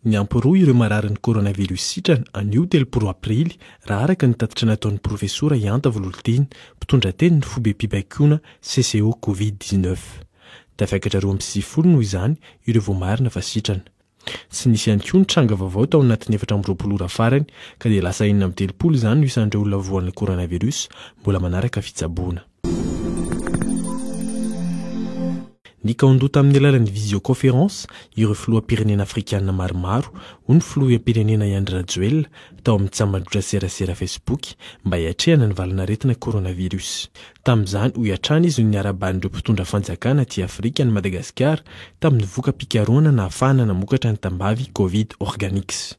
Miampy-roa ireo mararin'ny coronavirus sitrana anio telopolo aprily raha araka ny tatitra nataon'ny profesora Ihanta Vololoteny, mpitondra teny ny fobem-pibaikoana CCO Covid dix-neuf. Tafiakatra roa amby sivifolo noho izany ireo voamarina fa sitrana. Tsy nisy ihany koa ny tranga vaovao tao anatin'ny efatra amby roapolo ora farany, ka dia lasa enina amby telopolo izany no isan'ireo olona voan'ny coronavirus mbola manaraka fitsaboana. Nikaon-doha tamin'ny alalan'ny visioconférence ireo filoham-pirenena afrikana maromaro, hoy ny filoham-pirenena i Andry Rajoelina tao amin'ny tsambajotra serasera Facebook mba hiatrehana ny valan'aretina coronavirus. Tamin'izany, hoy hatrany izy no niara-balin'ireo mpitondra fanjakana aty Afrika an'i Madagasikara tamin'ny voka-pikarohana nahafahana namokatra ny tambavy Covid Organics.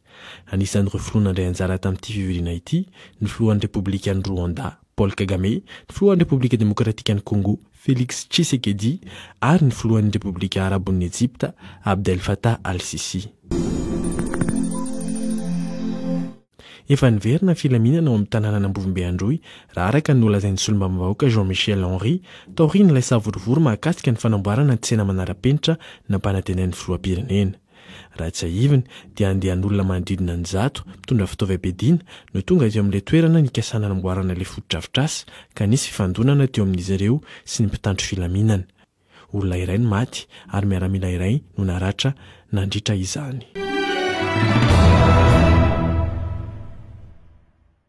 Anisan'ireo filoha nandray anjara tamin'ity fivoriana ity ny filohan'ny Repoblikan'i Rwanda, Paul Kagame, ny filohan'ny Repoblika Demokratikan'i Kongo, Felix Tshisekedi, ary ny filohan'ny Repoblika Arabon'i Ejipta, Abdel Fattah al-Sissi. Efa niverina ny filaminana ao amin'ny tanànan'Ambovombe Androy, raha araka ny nolazain'ny solombavambahoaka Jean Michel Henri, taorian'ilay savorovoro mahakasika ny fanamboarana ny tsena manara-penitra nampanatenain'ny filoham-pirenena. Raha tsiahivina dia andian'olona manodidina ny zato, mpitondra fitaovam-piadiana, no tonga teo amin'ilay toerana nikasana hanamboarana ilay fotodrafitrasa, ka nisy fifandonana teo amin'izy ireo sy ny mpitandro filaminana. Olona iray no maty ary miaramila iray no naratra nandritra izany.